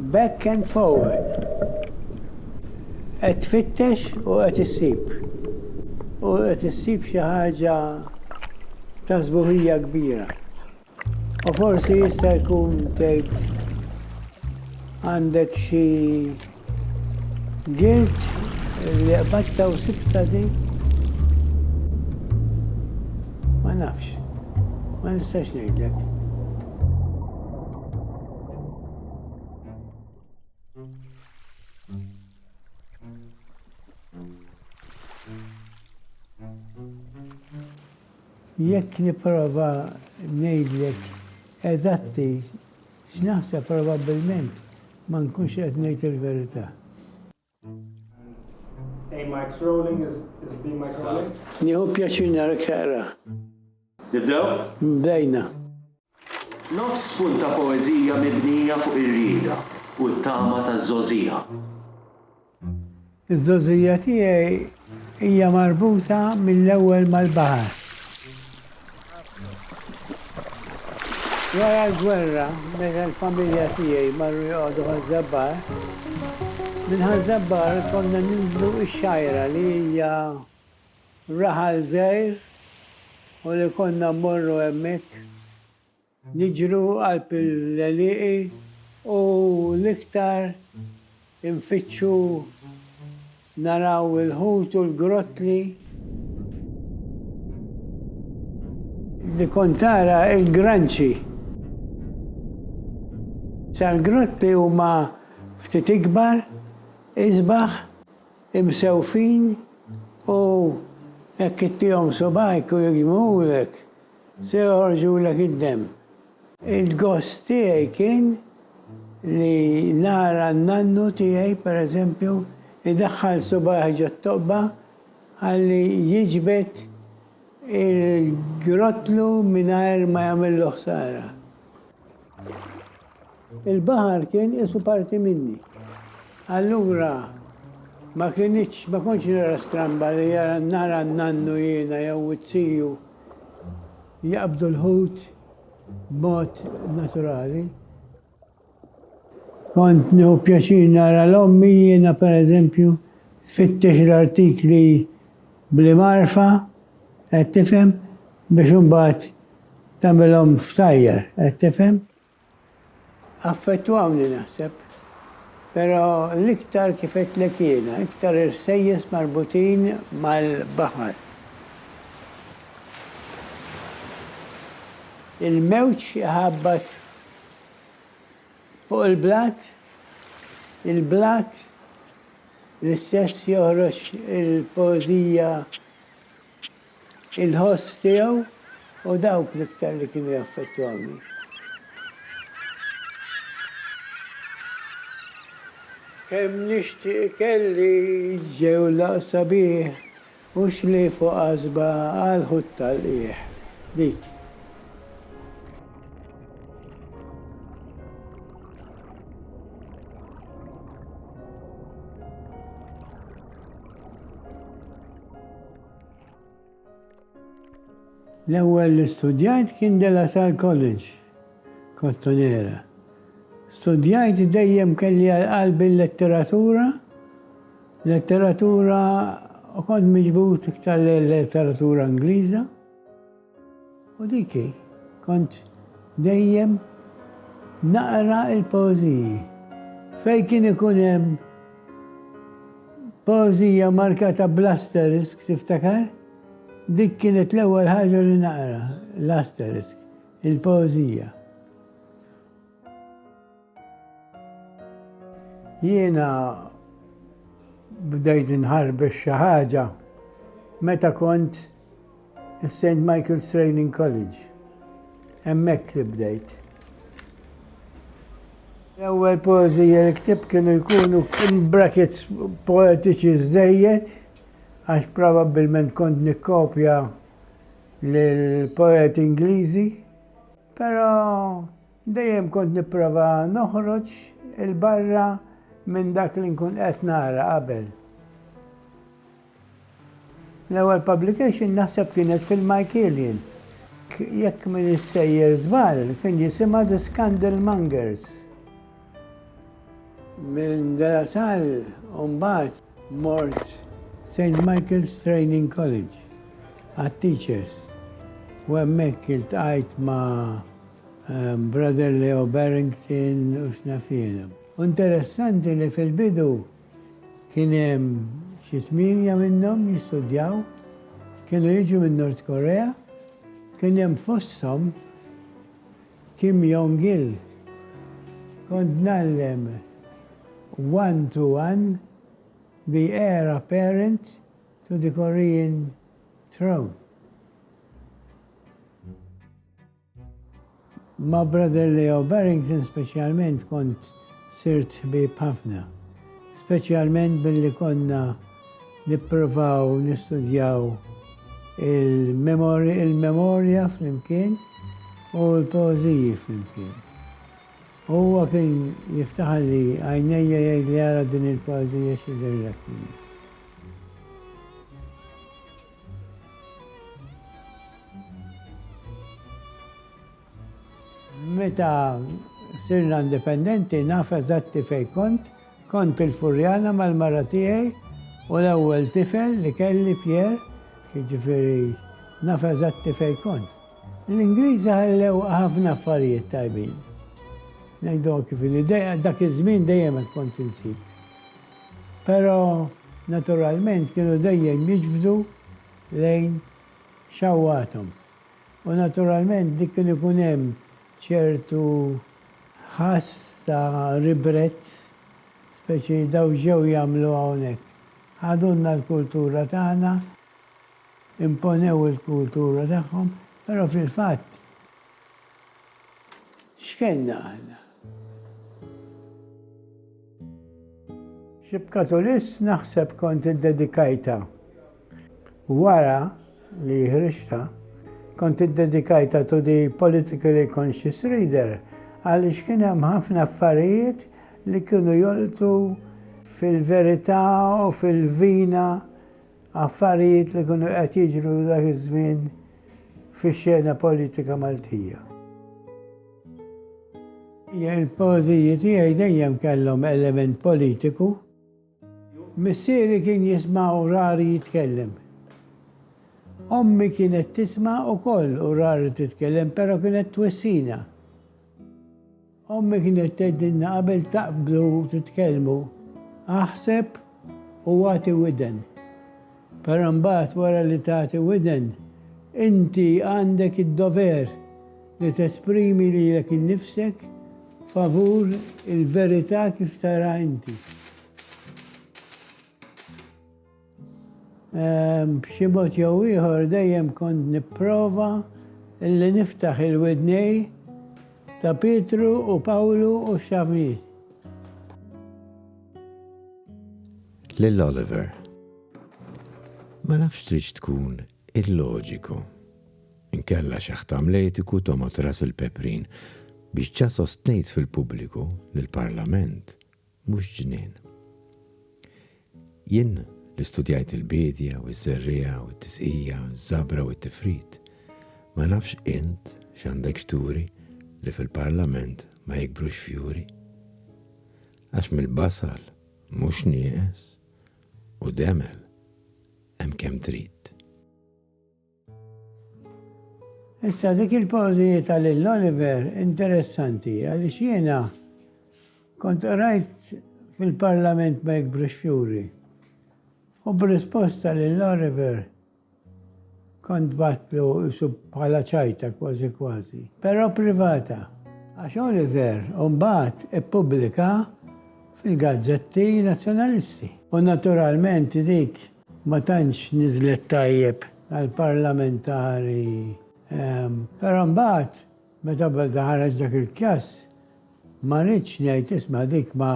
Back and forward. Qed tfittex u qed issib. U qed issib xi ħaġa ta' sbuħija kbira. U forsi jista' jkun tgħid għandek xi Gilt li qbadtha u sibtha din? Ma nafx. Ma nistax ngħidlek. Jekk nipprova ngħidlek eżatti X'naħseb probabbilment ma nkunx qed ngħid il-verità. Nieħu pjaċir narek taqra. Nibdew? Bdejna. Nofs punt ta' poeżija mibnija fuq ir-rieda u t-tama taż-żgħożija. Iż-żgħożija tiegħi hija marbuta mill-ewwel mal-baħar. Wara l-gwerra, meta l-familja tiegħi marru joqogħdu Ħaż-Żabbar, minn Ħaż-Żabbar konna ninżlu x-Xgħajra li hija raħal żgħir u li konna mmorru hemmhekk. Niġru qalb l-għelieqi u l-iktar infittxu naraw il-ħut u l-grottli. Li kont tara l-granċi. Sa l-grottli huma ftit ikbar, isbaħ, imsewfin u hekk ittihom subgħajk u jiġmuhulek. Se joħorġulek id-demm. Il-gost tiegħi kien li nara n-nannu tiegħi, per eżempju, idaħħal subajh ġot-toqba ħalli jiġbed il-grottlu mingħajr ma jagħmillu ħsara. Il-baħar kien qisu parti minni. Allura ma kienitx, ma kontx nara stramba li nara n-nannu jiena jew it-tiju. jaqbdu l-ħut b'mod naturali. Kont nieħu pjaċir nara 'l ommi jiena pereżempju tfittex l-artikli bl-imgħarfa, qed tifhem, biex imbagħad tagħmilhom f'tajjar, qed tifhem? Affettwawni naħseb. Però l-iktar kif għedtlek jiena, iktar irsejjes marbutin mal-baħar. Il-mewġ iħabbat fuq il-blat, il-blat l-istess joħroġ il-poeżija. Il-ħoss tiegħu u dawk l-iktar li kienu jaffettwawni. Kemm nixtieq ikelli ġewlaq sabiħ u xlief u qasba għal ħut tal-qiegħ. Dik. L-ewwel li studjajt kien De La Salle College, Kottonera. Studjajt dejjem kelli għal qalbi l-letteratura, letteratura u kont miġbud iktar lejn letteratura Ingliża. U dik hi, kont dejjem naqra l-poeżiji. Fejn kien ikun hemm poeżija markata bl-asterisk, tiftakar? Dik kienet l-ewwel ħaġa li naqra, l-asterisk, il-poeżija. Jiena bdejt inħarbex xi ħaġa meta kont is-St. Michael's Training College. Hemmhekk li bdejt. L-ewwel poeżija li ktib kienu jkunu in brackets poetiċi żejjed għax probabbilment kont nikkopja l-poet Ingliżi, però Dejjem kont nipprova noħroġ 'il barra minn dak li nkun qed nara qabel. L-ewwel publication naħseb kienet fil-Michaelian. Jekk min issejjer żball kien jisimha The Scandal Mongers. Minn De La Salle u mbagħad mort St. Michael's Training College għat-teachers u hemmhekk iltqajt ma' Brother Leo Barrington u x'naf jiena. U interessanti li fil-bidu kien hemm xi tmienja minnhom jistudjaw, kienu jiġu minn North Korea, kien hemm fosthom Kim Jong Il. Kont ngħallem one to one the heir apparent to the Korean throne. Ma' Brother Leo Barrington speċjalment kont sirt ħbieb ħafna, speċjalment billi konna nipprovaw nistudjaw il-memorja flimkien u l-poeżiji flimkien. Huwa kien jiftaħalli għajnejja jgħidli ara din il-poeżija x'jidhirlek minha. Meta sirna indipendenti naf eżatti fejn kont, kont il-Furjana mal-mara tiegħi u l-ewwel tifel li kelli Pierre, jiġifieri naf eżatti fejn kont. L-Ingliżi ħallew ħafna affarijiet tajbin. Ngħidulhom kif inhi, dak iż-żmien dejjem hekk kont insib. Però naturalment kienu dejjem jiġbdu lejn xewqathom. U naturalment dik kien ikun hemm ċertu ħass ta' ribrezz, speċi daw x'ġew jagħmlu hawnhekk? Ħadulna l-kultura tagħna, imponew il-kultura tagħhom, però fil-fatt, X'kellna aħna? Xi b'katulis naħseb kont iddedikajtha. Wara li ħriġtha, kont iddedikajtha to the politically conscious reader għaliex kien hemm ħafna affarijiet li kienu jolqtu fil-verità u fil-vina Affarijiet li kienu qed jiġru dak iż-żmien fix-xena politika Maltija. Il-poeżiji tiegħi dejjem kellhom element politiku. Missieri kien jisma' u rari jitkellem. Ommi kienet tisma' ukoll u rari titkellem, però kienet twissina. Ommi kienet tgħidilna qabel taqbdu titkellmu, aħseb u agħti widen. Però mbagħad wara li tagħti widen, inti għandek id-dover li tesprimi lilek innifsek favur il-verità kif taraha inti. B'xi mod jew ieħor dejjem kont nipprova li niftaħ il-widnejn ta' Pietru u Pawlu u x-xavniet. Lil Oliver. Ma nafx tridx tkun illoġiku. Inkella x'aħt amletiku tomgħod ras il-peprin biex ġa sostnejt fil-pubbliku li l-Parlament mhux ġnien. Jien li studjajt il-biedja u ż-żerriegħa u t-tisqija, ż-żabra u t-tifrid, ma nafx int x'għandek x'turi li fil-Parlament ma jikbrux fjuri? Għax mill-basal mhux nieqes u demel hemm kemm trid. Issa dik il-pożi ta' lil Oliver interessanti għaliex jiena kont qrajt fil-Parlament ma jikbrux fjuri u b'risposta lil Oliver kont bgħattlu qisu bħala ċajta kważi kważi, però privata. Għax Oliver mbagħad ippubblika fil-gazzetti Nazzjonalisti u naturalment dik Ma tantx niżlet tajjeb għall-parlamentari. Però mbagħad meta beda ħareġ dak il-kjass, ma ridtx ngħid isma' dik ma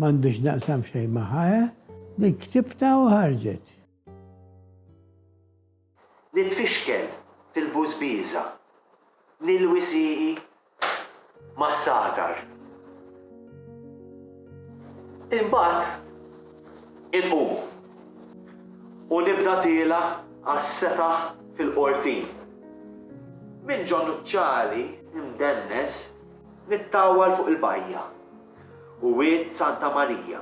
għandi x'naqsam xejn magħha, eh? Dik ktibtha u ħarġet. Nitfixkel fil-bużbieża, nilwi sieqi mas-sagħtar. Imbagħad inqum u nibda tiela' għas-setaħ fil-qortin. Minn ġo nuċċali mdennes nittawwal fuq il-bajja. u Wied Santa Marija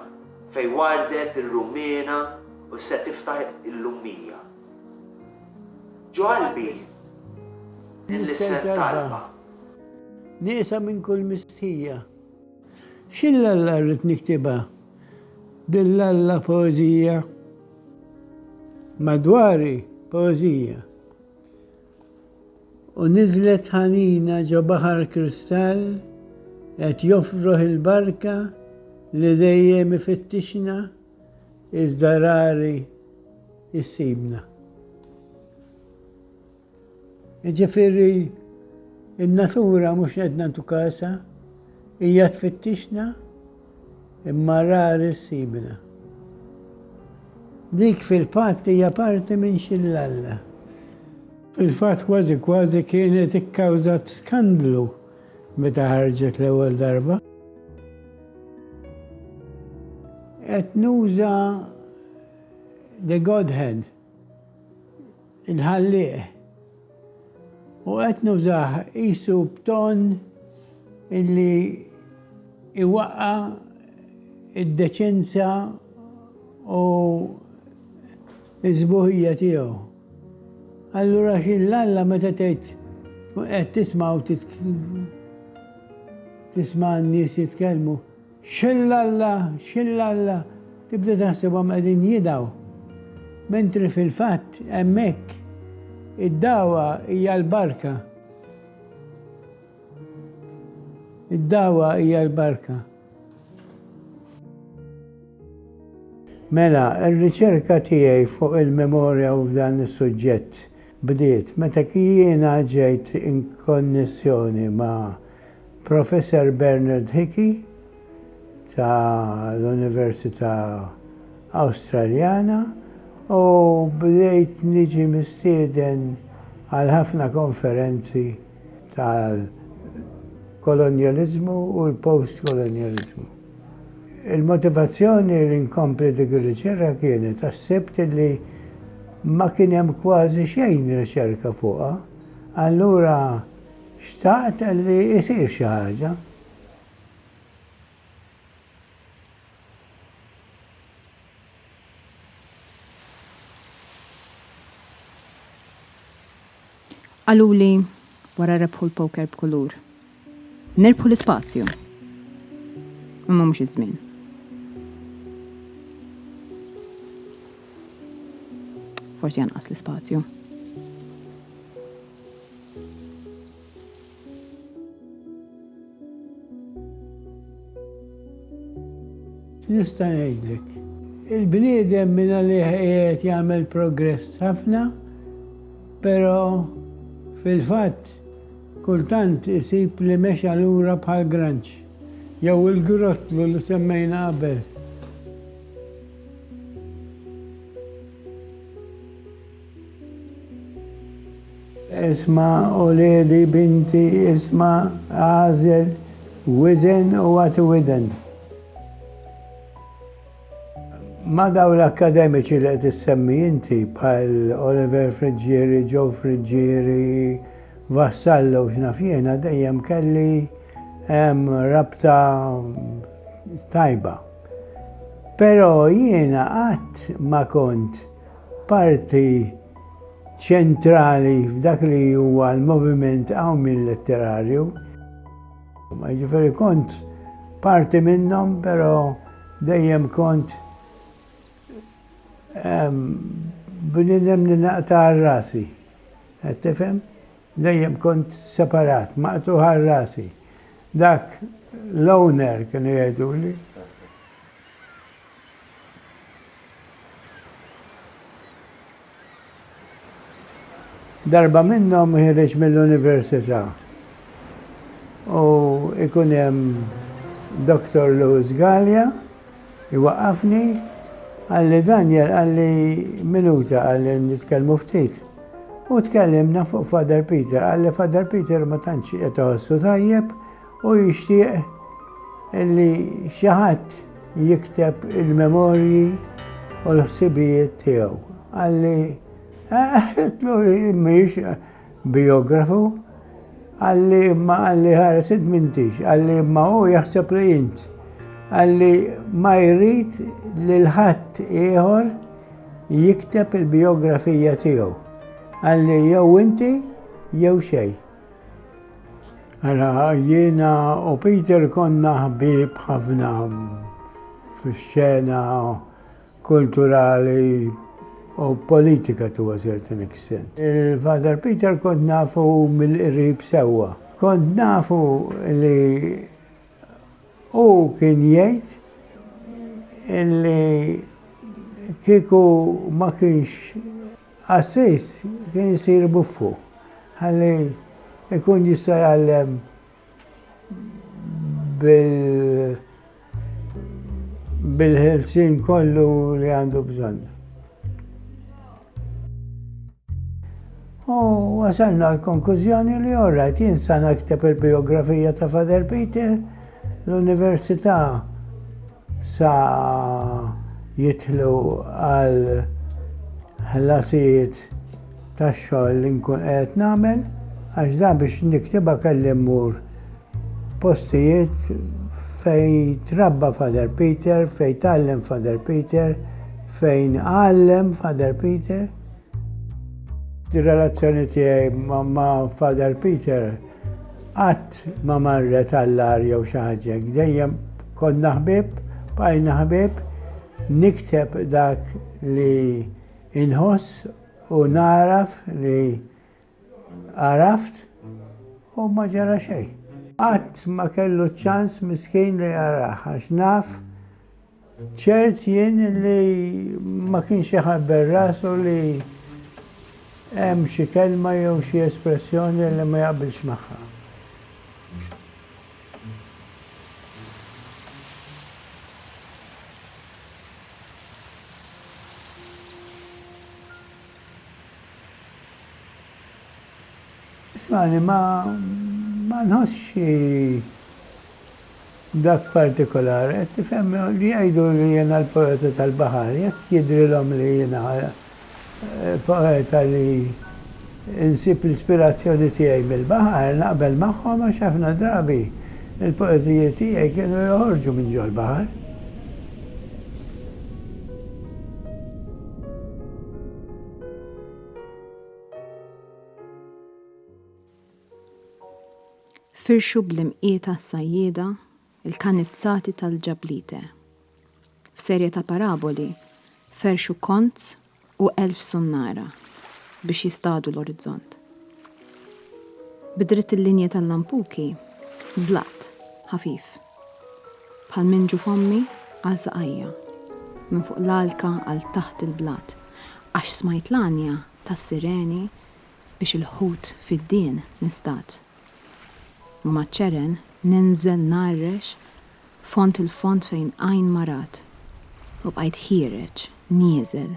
fejn wardet ir-rummiena u se tiftaħ illum 100. Ġo qalbi nlissen talba. Nieqsa minn kull mistħija. X'il Alla rrid niktibha din l-Alla poeżija? Madwari poeżija. U niżlet ħanina ġo baħar kristall qed jofroħ il-barka li dejjem ifittixna iżda rari jsibna. Jiġifieri n-natura mhux qed nagħtu kasha, hija tfittixna, Imma rari ssibna. Dik fil-fatt hija parti minn xillalla. Fil-fatt kważi kważi kienet ikkawżat skandlu meta ħarġet l-ewwel darba. Qed nuża The Godhead. il-Ħallieq, u qed nużah qisu b'ton illi jwaqqa' d-deċenza u s-sbuħija tiegħu. Allura xi l-Alla meta tgħid tkun qed tisma' u tisma' n-nies jitkellmu? Xillalla, xillalla, tibda taħsibhom qegħdin jidgħu, mentri fil-fatt hemmhekk id-dagħwa hija l-barka. Id-dagħwa hija l-barka. Mela, ir-riċerka tiegħi fuq il-memorja u f'dan is-suġġett bdiet meta jiena ġejt inkonnessjoni ma' Professor Bernard Hickey ta' l-Università Awstraljana u bdejt niġi mistieden għal ħafna konferenzi tal-kolonjaliżmu u l-postkolonjaliżmu. Il-motivazzjoni li nkompli dik ir-riċerka kienet għax sibt li ma kien hemm kważi xejn riċerka fuqha, allura, Xtaqt li jsir xi ħaġa. Qaluli wara rebħu l-poker b'kulur. Nirbħu l-ispazju. Imma mhux iż-żmien. Forsi anqas l-ispazju. Nista' ngħidlek, il-bniedem minn għalih qiegħed jagħmel progress ħafna, però fil-fatt kultant isib li mexa lura bħal granċ jew il-grottlu li semmejna qabel. Isma' uliedi, binti, isma', agħżel, wiżen u agħti widen. Ma' dawn l-akkademiċi li qed issemmi inti bħal Oliver Friggieri, Joe Friggieri, Vassallo u x'naf jiena dejjem kelli rabta tajba. Però jiena qatt ma kont Parti ċentrali f'dak li huwa l-moviment qawmien letterarju. Jiġifieri kont parti minnhom, però dejjem kont ehm, bnidem li naqta' rasi. Qed tifhem? Dejjem kont separat, maqtuħ rasi. Dak l-owner kienu jgħiduli. Darba minnhom ħireġ mill-università u ikun hemm Dr. Louis Gallia jwaqqafni għalli Daniel għalli minuta għalli nitkellmu ftit. U tkellimna fuq Father Peter, għalli Father Peter ma tantx qed iħossu tajjeb Hu jixtieq li xi ħadd jikteb il-memorji u l-ħsibijiet tiegħu. Qalli, għetlu mhix bijografu, qalli imma qalli ħares int m'intix, qalli imma hu jaħseb li int. Qalli ma jrid lil ħadd ieħor jikteb il-bijografija tiegħu. Qalli jew inti jew xejn. Ara, jiena u Peter konna ħbieb ħafna fix-xena kulturali u politika to a certain extent. Il-Father Peter kont nafu mill-qrib sewwa. Kont nafu li hu kien jgħid illi kieku ma kienx Qassis kien isir buffu ħalli jkun jista' jgħallem bil-ħelsien kollu li għandu bżonn. U wasalna għall-konkużjoni li all right, jien sa nakteb il-bijografija ta' Father Peter, l-Università Sa jidħlu għal ħlasijiet tax-xogħol li nkun qiegħed nagħmel għax dan biex niktibha kelli mmur postijiet fejn trabba Father Peter, fejn tgħallem Father Peter, fejn għallem Father Peter. Di relazzjoni tiegħi ma' Father Peter Qatt ma marret għall-agħar jew xi ħaġa hekk, dejjem konna ħbieb, bqajna ħbieb, nikteb dak li inħoss u nagħraf li għaraft u ma ġara xejn. Qatt ma kellu ċ-ċans miskin li jaraha għax naf Ċert jien li ma kienx iħabber rasu li hemm xi kelma jew xi espressjoni li ma jaqbilx magħha. Smani, ma, ma nħossx xi dak partikolari, qed tifhem, li jgħidu li jiena l-poeta tal-baħar, jekk jidhrilhom li jiena poeta li nsib l-ispirazzjoni tiegħi mill-baħar, naqbel magħhom għax ħafna drabi l-poeżiji tiegħi kienu joħorġu minn ġol-baħar. Firxu bl-imqieta s-sajjieda l-kanizzati tal-ġablite. F'serje ta' paraboli ferxu kont u elf sunnara biex jistadu l-orizzont. Bidritt il-linja tal-lampuki zlat, ħafif. Bħal minn ġo fommi għal saqajja. Minn fuq l-għalka għal taħt il-blat. Għax smajt l-għanja tas-sireni biex il-ħut fid-dien nistad. U maċ-ċeren ninżel ngħarrex fond il-fond fejn għajn ma rat. U bqajt ħiereġ, nieżel,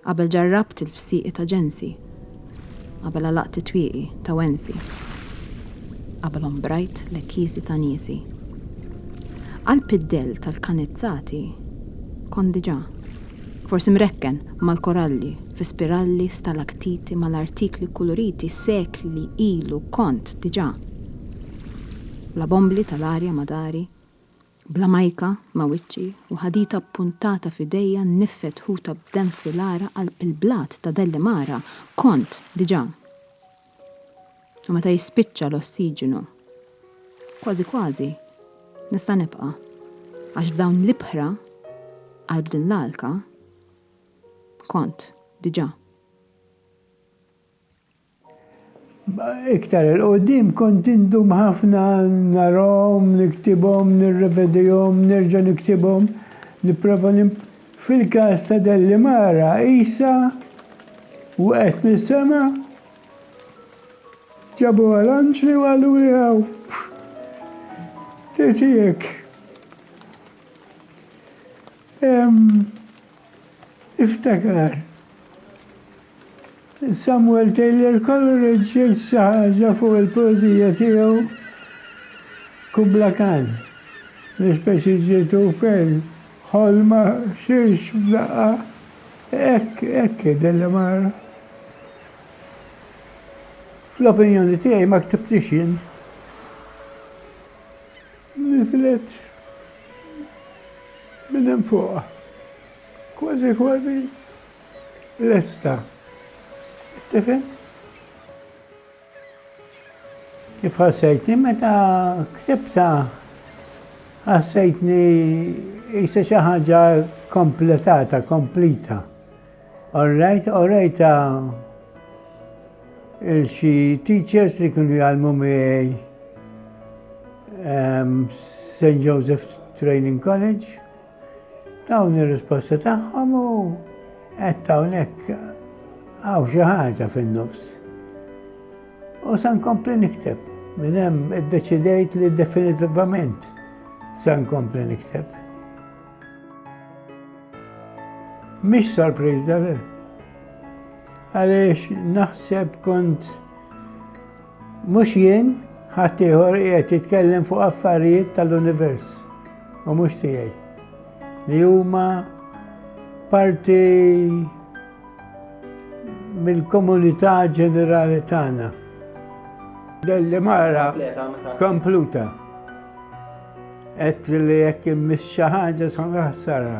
Qabel ġarrabt il-fsieqi ta' ġensi. Qabel għalaqt it-twieqi ta' wensi. Qabel ombrajt l-ekkisi ta' niesi. Qalb id-dell tal-kanizzati kont diġà, forsi mrekken mal-koralli fi spiralli stalaktiti mal-artikli kkuluriti sekli ilu kont diġà. Bla bombli tal-arja ma' dari, Bl-għamajka ma' wiċċi u ħadita ppuntata f'idejja nniffet ħuta b'demm fil-għaraq qalb il-blat ta' Dellimara kont diġà. U meta jispiċċa l-ossiġinu, kważi kważi nista' nibqa', għax f'dawn l-ibħra qalb din l-għalka kont diġà. Iktar 'il quddiem kont indum ħafna narahom, niktibhom, nirrevedihom, nerġa' niktibhom, nipprova nim. Fil-każ ta' Dellimara qisha wqgħet mis-sema, ġabuha l-anġli u qaluli hawn, tgħid hi hekk. Iftakar, Samuel Taylor Coleridge jgħid xi ħaġa fuq il-poeżija tiegħu Kubla Khan, li speċi ġietu fejn ħolma xiex f'daqqa, hekk, hekk hi din l-imara. Fl-opinjoni tiegħi ma ktibtiex jien. Niżlet minn hemm fuq, kważi kważi lesta. Tifhem? Kif ħassejtni meta ktibta ħassejtni jisa xi ħaġa kompletata, komplita. Orrejt, orrejta il-xi teachers li kienu jgħalmu miegħi ehm, St. Joseph Training College, dawn ir-risposta tagħhom u qed hawnhekk għaw xi ħaġa fin-nofs. U san kompli nikteb, minn hemm iddeċidejt li definitivament san kompli nikteb. Mhix sorpriża le. Għaliex naħseb kont mhux jien ħadd ieħor qiegħed jitkellem fuq affarijiet tal-univers u mhux tiegħi li huma parti mill-komunità ġenerali tagħna. Delli mara kompluta. Qed li jekk immiss xi ħaġa sa naħsara.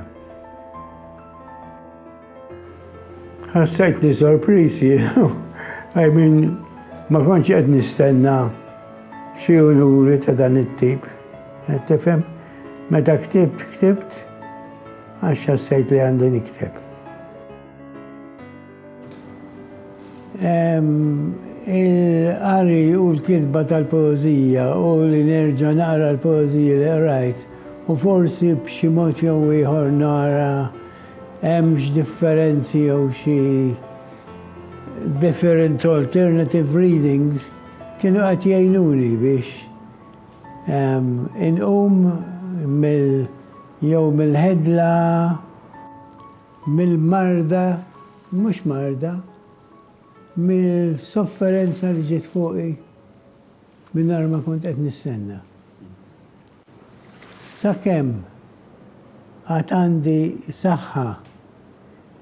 Ħassajtni sorprisi, I mean, ma konċ qed nistenna xi unuri ta' dan it-tip. Qed tifhem? Meta ktibt, ktibt, għax ħassajt li għandi nikteb. Il-qari u l-kitba tal-poeżija u li nerġa' naqra l-poeżiji li qrajt u forsi b'xi mod jew ieħor nara hemmx differenzi jew xi different alternative readings kienu qed jgħinuni biex inqum mill jew mill-ħidla mill-marda, mhux marda, mis-sofferenza li ġiet fuqi mingħajr ma kont qed nistenna. Sakemm għad għandi saħħa,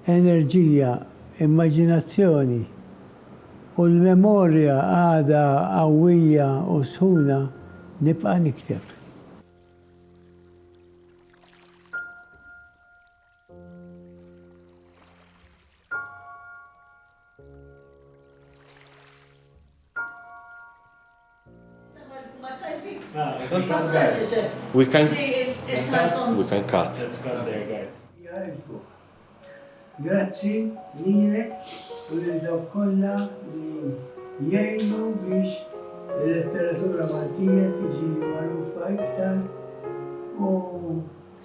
enerġija, immaġinazzjoni u l-memorja għadha qawwija u sħuna nibqa' nikteb. We can, we can cut. Grazzi lilek u lil dawk kollha li jgħinu biex il-letteratura Maltija tiġi magħrufa iktar u